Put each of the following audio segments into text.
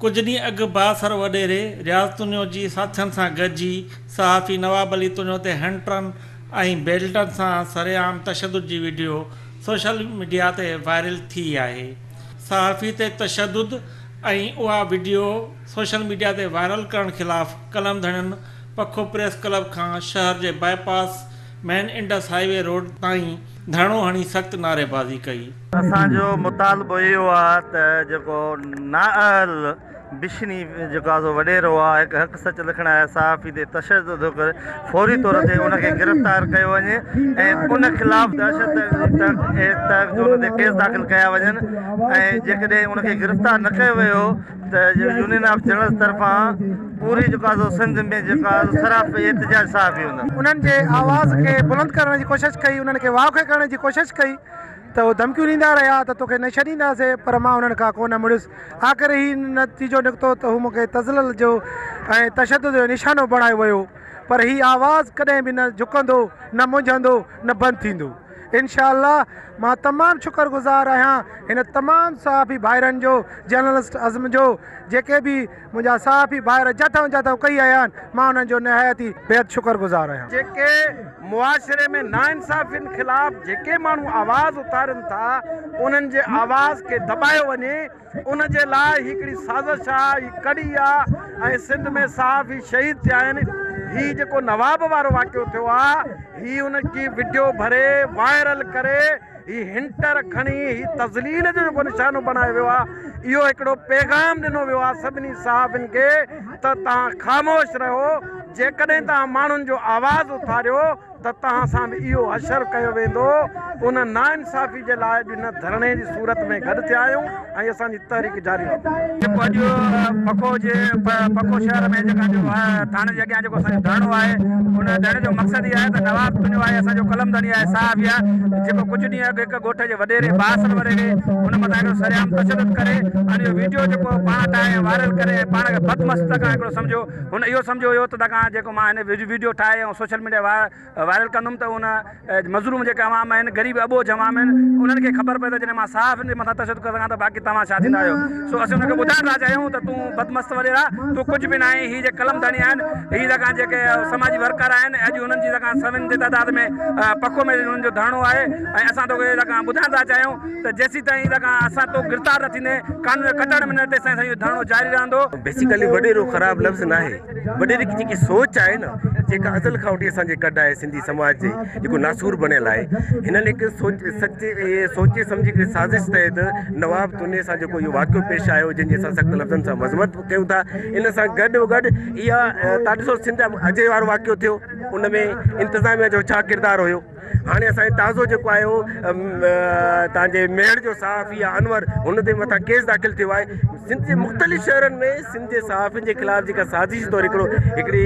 ڪجهه ڏينهن اڳ بااثر وڏيري رياض تونيو جي ساٿين سان گڏجي صحافي نواب علي تونيو تي هنٽرن ۽ بيلٽن سان سرعام تشدد جي وڊيو سوشل ميڊيا تي وائرل ٿي آهي صحافي تي تشدد ۽ اها وڊيو سوشل ميڊيا تي وائرل ڪرڻ خلاف قلم ڌڻين پکو پريس ڪلب کان شهر جي bypass main Indus highway road تائين ڌرڻو هڻي سخت نعريبازي ڪئي. اسان جو مطالبو اهو آ ته جيڪو نااهل بشني جيڪو آ سو وڏيرو آ هڪ حق سچ لکڻ آيل صحافي تي تشدد ٿو ڪري فوري طور تي ان کي گرفتار ڪيو وڃي ۽ ان خلاف دهشت تحت جو ان تي ڪيس داخل ڪيا وڃن ۽ جيڪڏهن ان کي گرفتار نه ڪيو ويو ته يونين آف جرنلز طرفان پوري جيڪا سو سنڌ ۾ جيڪا سراپي احتجاج صحافي هوندا. انهن جي آواز کي بلند ڪرڻ جي ڪوشش ڪئي، انهن کي واکي ڪرڻ جي ڪوشش ڪئي ته اهي ڌمڪيون ڏيندا رهيا ته توکي نه ڇڏينداسين پر مان انهن کان ڪونه مڙيس. آخر هي نتيجو نڪتو ته هو مون کي تذلل جو ۽ تشدد جو نشانو بڻايو ويو پر هي آواز ڪڏهن به نه جهڪندو، نه منجهندو، نه بند ٿيندو. انشاء الله مان تمام شڪر گذار آهيان هن تمام صحافي ڀائرن جو جرنلسٽ عزم جو جيڪي به منهنجا صحافي ڀائر جتهون جتهون ڪئي آيا آهن مان انهن جو نهايت ئي بيحد شڪر گذار آهيان. جيڪي معاشري ۾ ناانصافين خلاف جيڪي ماڻهو آواز اٿارين ٿا انهن جي آواز کي دٻايو وڃي ان جي لاء هي هڪڙي سازش آ، هي ڪڙي آ ۽ سنڌ ۾ صحافي شهيد ٿيا آهن. هي جيڪو نواب وارو واقعو ٿيو آ، هي ان جي وڊيو ڀري وائرل ڪري هي هنٽر کڻي هي تذليل جو جيڪو نشانو بڻايو ويو آ، اهو هڪڙو پيغام ڏنو ويو آ سڀني صحافين کي ته توهان خاموش رهو، جيڪڏهن توهان ماڻهن جو آواز اٿاريو، ته توهان سان به اهو حشر ڪيو ويندو، ان ناانصافي جي لاء اڄ هن ڌرڻي جي صورت ۾ گڏ ٿيا آهيون ۽ اسان جي تحريڪ جاري رهندي. جيڪو اڄ پکو جي پکو شهر ۾ جيڪا جو ٿاڻي جي اڳيان جيڪو اسان جو ڌرڻو آهي ان ڌرڻي جو مقصد هي آهي ته نواب تنهنجو آهي اسان جو قلم ڌڻي آهي صاحب هي آهي جيڪو ڪجهه ڏينهن اڳ هڪ ڳوٺ جي وڏيري باسل وريري ان مٿان هڪڙو سرعام تشدد ڪري ان جو ويڊيو جيڪو پاڻ ٺاهي ۽ وائرل ڪري ۽ پاڻ کي بدمستڪ ۽ هڪڙو سمجهو هن اهو سمجهيو هيو ته دکان جيڪو مان هن ويڊيو ٺاهي ۽ سوشل ميڊيا وائرل ڪندم ته ان مظلوم جيڪي عوام آهن غريب اٻوجهه عوام آهن انهن کي خبر پئي ته جڏهن مان صحافين جي مٿان تشدد ڪري سگهان ٿو باقي توهان ڇا ٿيندا آهيو سو اسين ان کي ٻڌائڻ ٿا چاهيون ته تون بدمست وڏيرا تون ڪجهه به ناهين هي جيڪي قلم ڌڻي آهن هي دکان جيڪي سماجي ورڪر آهن اڄ انهن جي دکان سوين جي تعداد ۾ پڪو ۾ انهن جو ڌرڻو آهي ۽ اسان توکي دکان ٻڌائڻ ٿا چاهيون ته جيسيتائين دکان اسان تو گرفتار نه ٿيندين قانون کي ڪٽڻ ۾ نه تيسيتائين اسان جو ڌرڻو جاري رهندو. بيسيڪلي وڏيرو خراب لفظ ناهي، وڏيري جي جيڪي سوچ آهي نه جيڪا ازل کان وٺي اسان جي ڪڍ آهي سنڌي سماج جي جيڪو ناسور بڻيل آهي هن لک سوچ سچي سوچي سمجهي ڪري سازش تحت نواب توني سان جيڪو اهو واقعو پيش آيو جنهن جي اسان سخت لفظن سان مذمت به ڪيون ٿا ان سان گڏ وگڏ اها تان ڏسو سنڌ اجي وارو واقعو ٿيو ان ۾ انتظاميا جو ڇا ڪردار هيو هاڻي اسان جي تازو جيڪو آهي اهو تان جي ميڙ جو صحافي آهي انور هن تي مٿان ڪيس داخل ٿيو آهي سنڌ جي مختلف شهرن ۾ سنڌ جي صحافين جي خلاف جيڪا سازش طور هڪڙو هڪڙي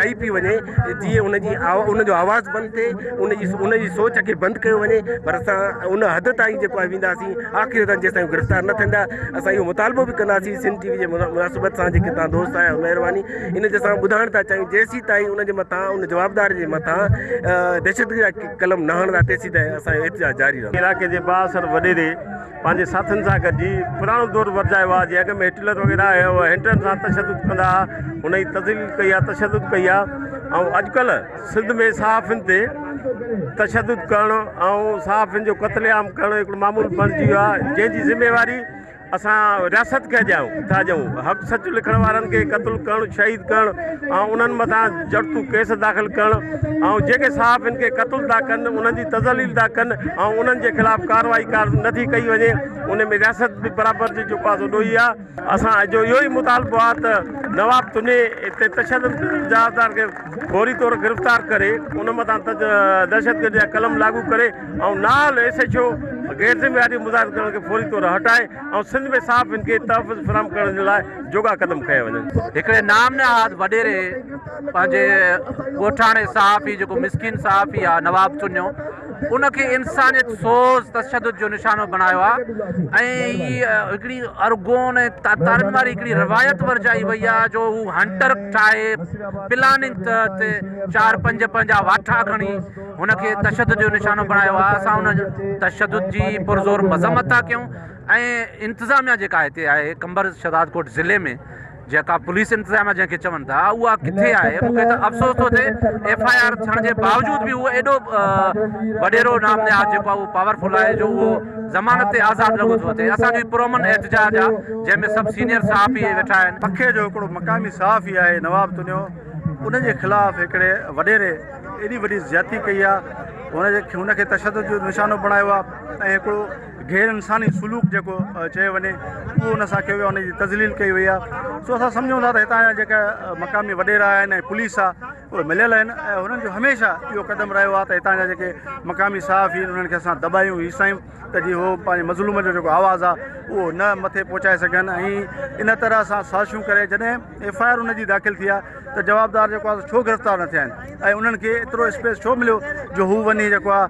ڪئي پي وڃي جي ان جي ان جو آواز بند ٿئي ان جي ان جي سوچ کي بند ڪيو وڃي پر اسان ان حد تائين جيڪو آهي وينداسين آخر تائين جيسين گرفتار نه ٿيندا اسان اهو مطالبو به ڪنداسين سنڌ ٽي وي جي مناسبت سان جيڪي تان دوست آهيا مهرباني ان جي اسان ٻڌائڻ ٿا چاهيون جيسين تائين ان جي مٿان ان جوابدار جي مٿان دهشتگرد جا قلم نه هڻندا تيسين تائين اسان احتجاج جاري رهندو. علاقي جي بااثر وڏيري پنهنجي ساٿين سان گڏجي پراڻو دور ورجايو آهي جي اڳ ۾ هٽلر وغيره هينٽن سان تشدد ڪندا ها هن ئي تذليل ڪئي آهي تشدد ڪئي آهي ۽ اڄڪلهه سنڌ ۾ صحافين تي تشدد ڪرڻ ۽ صحافين جو قتل عام ڪرڻ هڪڙو معمول بڻجي ويو آهي جنهن جي ذميواري اسان رياست کي اجايو ٿا ڏيون، حق سچ لکڻ وارن کي قتل ڪرڻ، شهيد ڪرڻ ۽ انهن مٿان جڙتو ڪيس داخل ڪرڻ ۽ جيڪي صحافين کي قتل ٿا ڪن انهن جي تذليل ٿا ڪن ۽ انهن جي خلاف ڪارروائي ڪار نه ٿي ڪئي وڃي ان ۾ رياست به برابر جي چوپاسو ڏوهي آ. اسان جو اهو ئي مطالبو آ ته نواب تني تي تشدد جا هٿيار کي فوري طور گرفتار ڪري ان مٿان دهشتگردي جا قلم لاڳو ڪري. ۽ نااهل ايس ايڇ او غير ذميواري مظاهر ڪرڻ کي فوري طور هٽائي ۽ سنڌ ۾ صحافين کي تحفظ فراهم ڪرڻ جي لاء جوڳا قدم کنيا وڃن. هڪڙي نام نهاد وڏيري پنهنجي ڳوٺاڻي صحافي جيڪو مسڪين صحافي آ نواب چنيو ان کي انسانيت سوز تشدد جو نشانو بڻايو آ ۽ هي هڪڙي ارغون ۽ تاتارن واري هڪڙي روايت ورجائي وئي آ جو هو هنٽر ٺاهي پلاننگ تحت چار پنج پنهنجا واٺا کڻي هن کي تشدد جو نشانو بڻايو آهي اسان ان تشدد جي پرزور مذمت ٿا ڪيون ۽ انتظاميا جيڪا هتي آهي قمبر شهدادڪوٽ ضلعي ۾ جيڪا پوليس انتظاميا جنهن کي چون ٿا اها ڪٿي آهي مون کي ته افسوس ٿو ٿئي ايف آء آر ٿيڻ جي باوجود به اهو ايڏو وڏيرو نام نهاد جيڪو اهو پاورفل آهي جو اهو ضمانت تي آزاد لڳو ٿو ٿئي اسان جو پرامن احتجاج آهي جنهن ۾ سڀ سينئر صحافي ويٺا آهن پکي جو هڪڙو مقامي صحافي آهي نواب تنيو ان جي خلاف هڪڙي وڏيري ايڏي وڏي زيادتي ڪئي آ هن جي هن کي تشدد جو نشانو بڻايو آ ۽ هڪڙو غير انساني سلوڪ جيڪو چيو وڃي اهو هن سان ڪيو ويو آ هن جي تذليل ڪئي وئي آ سو اسان سمجهون ٿا ته هتان جا جيڪا مقامي وڏيرا آهن ۽ پوليس آ اهي مليل آهن ۽ هنن جو هميشه اهو قدم رهيو آ ته هتان جا جيڪي مقامي صحافي آهن انهن کي اسان دٻايون هيسايون ته جي هو پنهنجي مظلوم جو جيڪو آواز آ اهو نه مٿي پهچائي سگهن ۽ ان طرح سان سازشون ڪري جڏهن ايف آء آر ان جي داخل ٿي آ ته جوابدار جيڪو آ ڇو گرفتار نه ٿيا آهن ۽ انهن کي ايترو اسپيس ڇو مليو جو هو وڃي جيڪو آ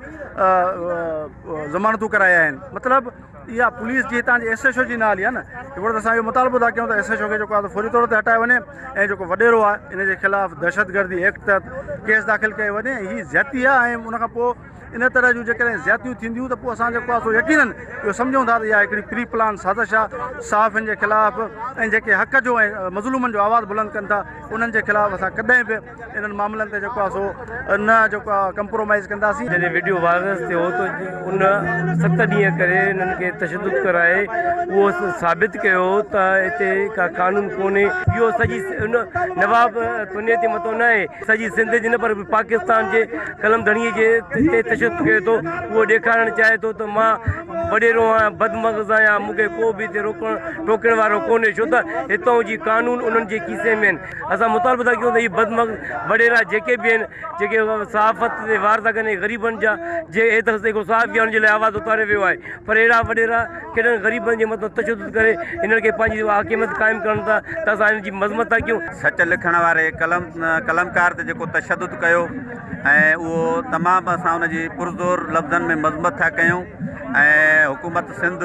ضمانتون ڪرايا آهن مطلب اها پوليس جي هتان جي ايس ايچ او جي نه هلي آ نه هڪڙو ته اسان اهو مطالبو ٿا ڪيون ته ايس ايچ او کي جيڪو آ فوري طور تي هٽايو وڃي ۽ جيڪو وڏيرو آ ان جي خلاف دهشت گردي ايڪٽ تحت ڪيس داخل ڪيو وڃي هي زيادتي آ ۽ ان کان پوء ان طرح جون جيڪڏهن زيادتيون ٿينديون ته پوء اسان جيڪو آهي سو يقينن اهو سمجهون ٿا ته اها هڪڙي پري پلان سازش آهي صحافين جي خلاف ۽ جيڪي حق جو ۽ مظلومن جو آواز بلند ڪن ٿا انهن جي خلاف اسان ڪڏهن به انهن معاملن تي جيڪو آهي سو نه جيڪو آهي ڪمپرومائز ڪنداسين جڏهن وڊيو وائرس ٿيو ته ان ست ڏينهن ڪري انهن کي تشدد ڪرائي اهو ثابت ڪيو ته هتي ڪا قانون ڪونهي اهو سڄي ان نواب تونيتي متو نه آهي سڄي سنڌ جي نه پر پاڪستان جي قلم ڌڻيء جي تي تشدد ڪري ٿو اهو ڏيکارڻ چاهي ٿو ته مان وڏيرو آهيان بد مغز آهيان مون کي ڪو به هتي روڪڻ ٽوڪڻ وارو ڪونهي ڇو ته هتئون جي قانون انهن جي کيسي ۾ آهن اسان مطالبو ٿا ڪيون ته هي بد مغز وڏيرا جيڪي به آهن جيڪي صحافت تي وار ٿا ڪن اهي غريبن جا جي ايترس تي ڪو صحافي آهي ان جي لاء آواز اٿاريو ويو آهي پر اهڙا وڏيرا ڪهڙن غريبن جي مٿان تشدد ڪري هنن کي پنهنجي حاڪميت قائم ڪرن ٿا ته اسان هنن جي مذمت ٿا ڪيون. سچ لکڻ واري قلم قلمڪار تي جيڪو تشدد ڪيو ۽ اهو تمام اسان ان جي پرزور لفظن ۾ مذمت ٿا ڪيون ۽ حڪومت Sindh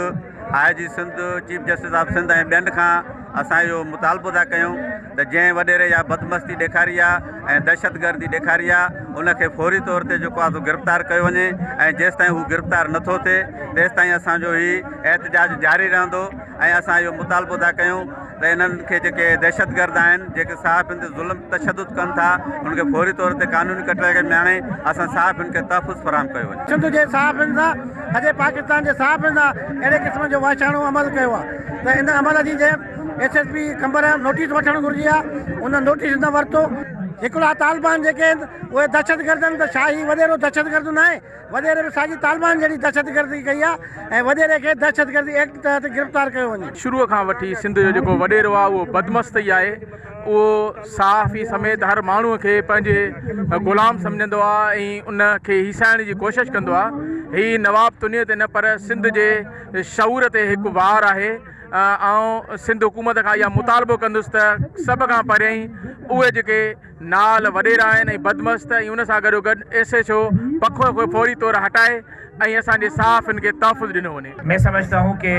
I G Sindh chief justice of Sindh ۽ ٻين کان اسان اهو مطالبو ٿا ڪيون ته جنهن وڏيري اها بدمستي ڏيکاري آهي ۽ دهشتگردي ڏيکاري آهي ان کي فوري طور تي جيڪو آهي سو گرفتار ڪيو وڃي ۽ جيستائين هو گرفتار نٿو ٿئي تيستائين اسان جو هي احتجاج جاري رهندو ۽ اسان اهو مطالبو ٿا ڪيون ته انهن کي جيڪي دهشتگرد آهن جيڪي صحافين تي ظلم تشدد ڪن ٿا ان کي فوري طور تي قانوني ڪٽهڙي ۾ آڻي اسان صحافين کي تحفظ فراهم ڪيو وڃي. سنڌ جي صحافين سان سڄي پاڪستان جي صحافين سان اهڙي قسم جو وحشاڻو عمل ڪيو آهي ته ان عمل جي جنهن S S P Qambar notice وٺڻ گهرجي ها ان نوٽيس نه ورتو. هڪڙا طالبان جيڪي آهن اهي دهشتگرد آهن ته ڇا هي وڏيرو دهشتگرد نه آهي؟ وڏيري به ساڳي طالبان جهڙي دهشتگردي ڪئي آهي ۽ وڏيري کي دهشتگردي ايڪٽ تحت گرفتار ڪيو وڃي. شروع کان وٺي سنڌ جو جيڪو وڏيرو آهي اهو بدمست ئي آهي اهو صحافي سميت هر ماڻهو کي پنهنجي غلام سمجهندو آهي ۽ ان کي هيسائڻ جي ڪوشش ڪندو آهي هي نواب تنيو تي نه پر سنڌ جي شعور تي هڪ وار آهي. آئون سنڌ حڪومت کان اها مطالبو ڪندس ته سڀ کان پهريائين اهي جيڪي نال وڏيرا آهن ۽ بدمست ۽ ان سان گڏو گڏ ايس ايڇ او پکو کي فوري طور هٽائي ۽ اسان جي صحافين کي تحفظ ڏنو وڃي. مين سمجهتا هون ڪي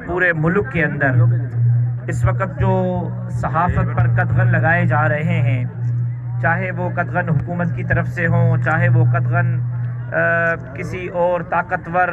پوري ملڪ ڪي اندر اس وقت جو صحافت پر قدغن لگائي جا رهي هين چاهي وو قدغن حڪومت ڪي طرف سي هون چاهي وو قدغن ڪسي اور طاقتور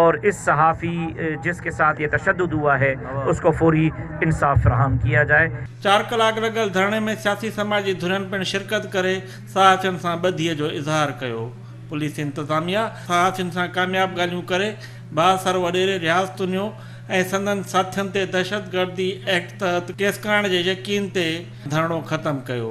اور اس صحافي جس کے ساتھ یہ تشدد ہوا ہے اس کو فوری انصاف فراہم ڪيا جائے. چار ڪلاڪ لڳل ڌرڻي ۾ سياسي سماجي ڌرين پڻ شرڪت ڪري صحافين سان ٻڌي جو اظهار ڪيو. پوليس انتظاميا صحافين سان ڪامياب ڳالهيون ڪري بااثر وڏيري رياض تنيو ۽ سندن ساٿين تي دهشتگردي ايڪٽ تحت ڪيس ڪرڻ جي يقين تي ڌرڻو ختم ڪيو.